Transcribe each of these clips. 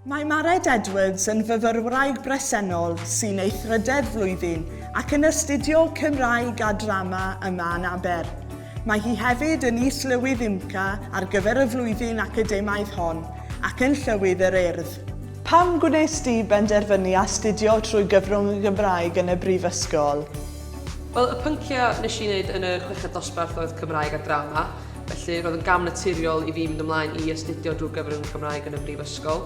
Mae Mared Edwards yn fyfyrwraig bresennol sy'n ei thrydedd flwyddyn ac yn astudio Cymraeg a Drama yma yn Aber. Mae hi hefyd yn Is-lywydd UMCA ar gyfer y flwyddyn academaidd hon ac yn Llywydd yr Urdd. Pam gwnes di benderfynu astudio trwy gyfrwng y Gymraeg yn y Brifysgol? Wel, y pynciau wnes i wneud yn y chweched dosbarth oedd Cymraeg a Drama. Felly roedd yn gam naturiol i fi mynd ymlaen i astudio drwy gyfer yn Cymraeg yn y Brifysgol.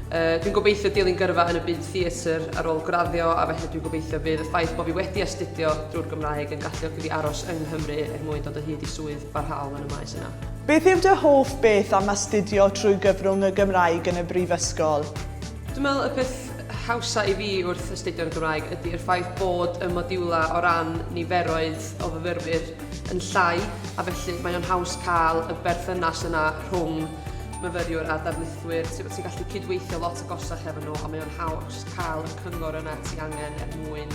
Uh, dwi'n gobeithio dilyn gyrfa yn y byd theatr ar ôl graddio a felly dwi'n gobeithio bydd y ffaith bod fi wedi astudio drwy'r Gymraeg yn galluogi fi aros yng Nghymru er mwyn dod o hyd i swydd barhaol yn y maes yna. Beth yw dy hoff beth am astudio trwy gyfrwng y Gymraeg yn y Brifysgol? Dwi'n meddwl y peth hawsa i fi wrth astudio'r Gymraeg ydy'r ffaith bod y modiwlau o ran niferoedd o fyfyrwyr yn llai a felly mae o'n haws cael y berthynas yna rhwng myfyriwr a darlithwyr, ti'n ti gallu cydweithio lot o gosach efo nhw a mae o'n haws cael y cyngor yna ti angen er mwyn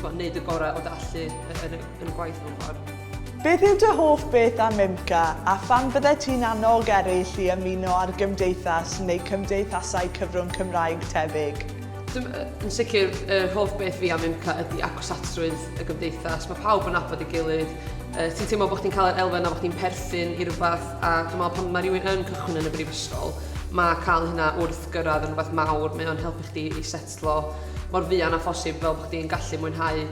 wneud y gorau o dallu yn, yn, yn y gwaith mewn ffordd. Beth yw dy hoff beth am IMCA a pham fyddet ti'n annog eraill i ymuno â'r gymdeithas neu cymdeithasau cyfrwng Cymraeg tebyg? Yn sicr, yr hoff beth fi am UMCA ydy agosatrwydd y gymdeithas. Mae pawb yn nabod ei gilydd. Uh, ti'n teimlo bod chdi'n cael yr elfen a bod chdi'n perthyn i rhywbeth a dwi'n meddwl pan mae rhywun yn cychwyn yn y brifysgol, mae cael hynna wrth gyrraedd yn rhywbeth mawr. Mae o'n helpu chdi i setlo mor fuan a phosib fel bod chdi'n gallu mwynhau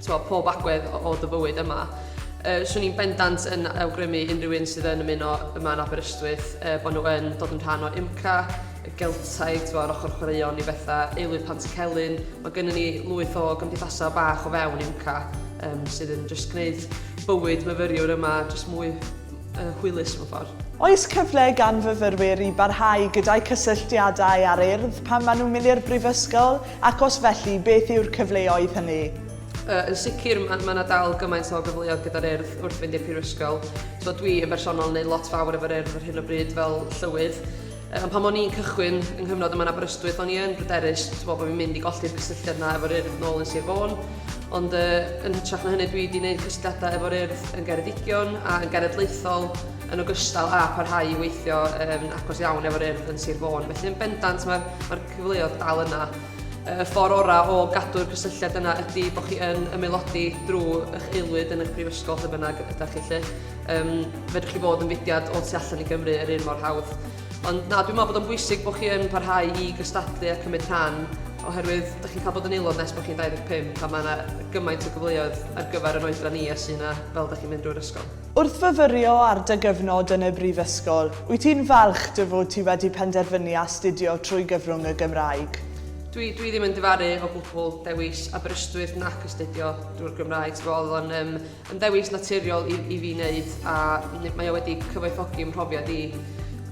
twa, pob agwedd o, o dy fywyd yma. Uh, swn i'n bendant yn awgrymu unrhyw un sydd yn ymuno yma yn Aberystwyth uh, bod nhw yn dod yn rhan o UMCA y Geltaidd, t'bo' yr ochor chwaraeon i betha, Aelwyd Pantycelyn, ma' gynnon ni lwyth o gymdeithasa' bach o fewn UMCA yym sydd yn jyst gneud bywyd myfyriwr yma jyst mwy yy hwylus mewn ffor. Oes cyfle gan fyfyrwyr i barhau gyda'u cysylltiadau â'r Urdd pan maen nhw'n mynd i'r Brifysgol, ac os felly, beth yw'r cyfleoedd hynny? Yy yn sicr ma' ma' 'na dal gymaint o gyfleoedd gyda'r Urdd wrth fynd i'r Prifysgol. T'bo' dwi yn bersonol yn neud lot fawr efo'r Urdd ar hyn o bryd fel llywydd, Ond pan o'n i'n cychwyn yng nghyfnod yma yn Aberystwyth o'n i yn bryderus t'bo' bo' fi'n mynd i golli'r cysylltiad 'na efo'r Urdd nôl yn Sir Fôn ond yy yn hytrach na hynny dwi 'di neud cysylltiadau efo'r Urdd yn Geredigion a yn genedlaethol yn ogystal â parhau i weithio yn agos iawn efo'r Urdd yn Sir Fôn felly yn bendant ma'r ma'r cyfleodd dal yna. Y ffor' ora' o gadw'r cysylltiad yna ydi bo' chi yn ymaelodi drw 'ych aelwyd yn 'ych prifysgol lle bynnag ydach chi 'lly. Yym, fedrwch chi fod yn fudiad o tu allan i Gymru yr un mor hawdd. Ond na, dwi'n meddwl bod o'n bwysig bod chi yn parhau i gystadlu a cymryd rhan, oherwydd ydych chi'n cael bod yn aelod nes bod chi'n 25 a mae yna gymaint o gyfleoedd ar gyfer yn oedran ni a sy'n yna fel ydych chi'n mynd drwy'r ysgol. Wrth fyfyrio ar dy gyfnod yn y brifysgol, wyt ti'n falch dy fod ti wedi penderfynu astudio trwy gyfrwng y Gymraeg? Dwi, dwi ddim yn difaru o gwbl dewis Aberystwyth nac astudio drwy'r Gymraeg, ti'n gwybod, oedd o'n yym, Yn ddewis naturiol i i fi wneud a n- mae o wedi cyfoethogi 'm mhrofiad i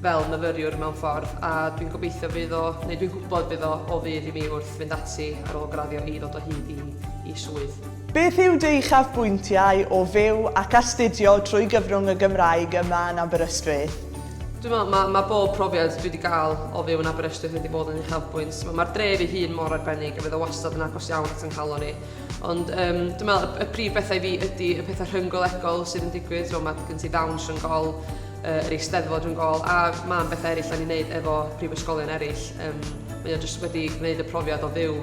fel myfyriwr mewn ffordd a dwi'n gobeithio fydd o, neu dwi'n gwybod fydd o o fudd i mi wrth fynd ati ar ôl graddio i ddod o hyd i i swydd. Beth yw dy uchafbwyntiau o fyw ac astudio trwy gyfrwng y Gymraeg yma yn Aberystwyth? Dwi'n meddwl ma' ma' bob profiad dwi 'di gael o fyw yn Aberystwyth wedi bod yn uchafbwynt. Mae'r dref ei hun mor arbennig a fydd o wastad yn agos iawn at 'y nghalon i. Ond um, dwi'n meddwl y prif bethau i fi ydy y pethau rhynggolegol sydd yn digwydd, so mae gen ti ddawns rhwng gol, uh, yr eisteddfod rhwng gol, a mae'n bethau eraill o'n i'n neud efo prifysgolion eraill. Um, mae o jyst wedi gwneud y profiad o fyw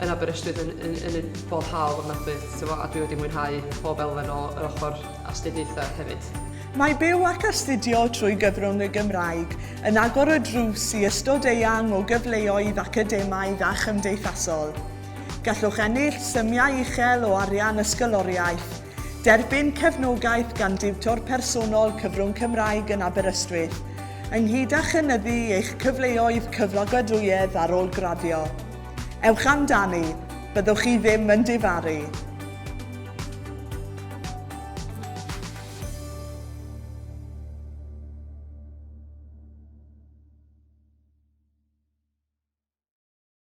yn Aberystwyth yn, yn, yn, yn bob hawl o'n adwydd, a dwi wedi mwynhau pob elfen o yr ochr astudiaethau hefyd. Mae byw ac astudio trwy gyfrwng y Gymraeg yn agor y drws i ystod eang o gyfleoedd academaidd a chymdeithasol. Gallwch ennill symiau uchel o arian ysgoloriaeth, derbyn cefnogaeth gan diwtor personol cyfrwng Cymraeg yn Aberystwyth, ynghyd â chynyddu eich cyfleoedd cyflogadwyedd ar ôl graddio. Ewch amdani, byddwch chi ddim yn difaru!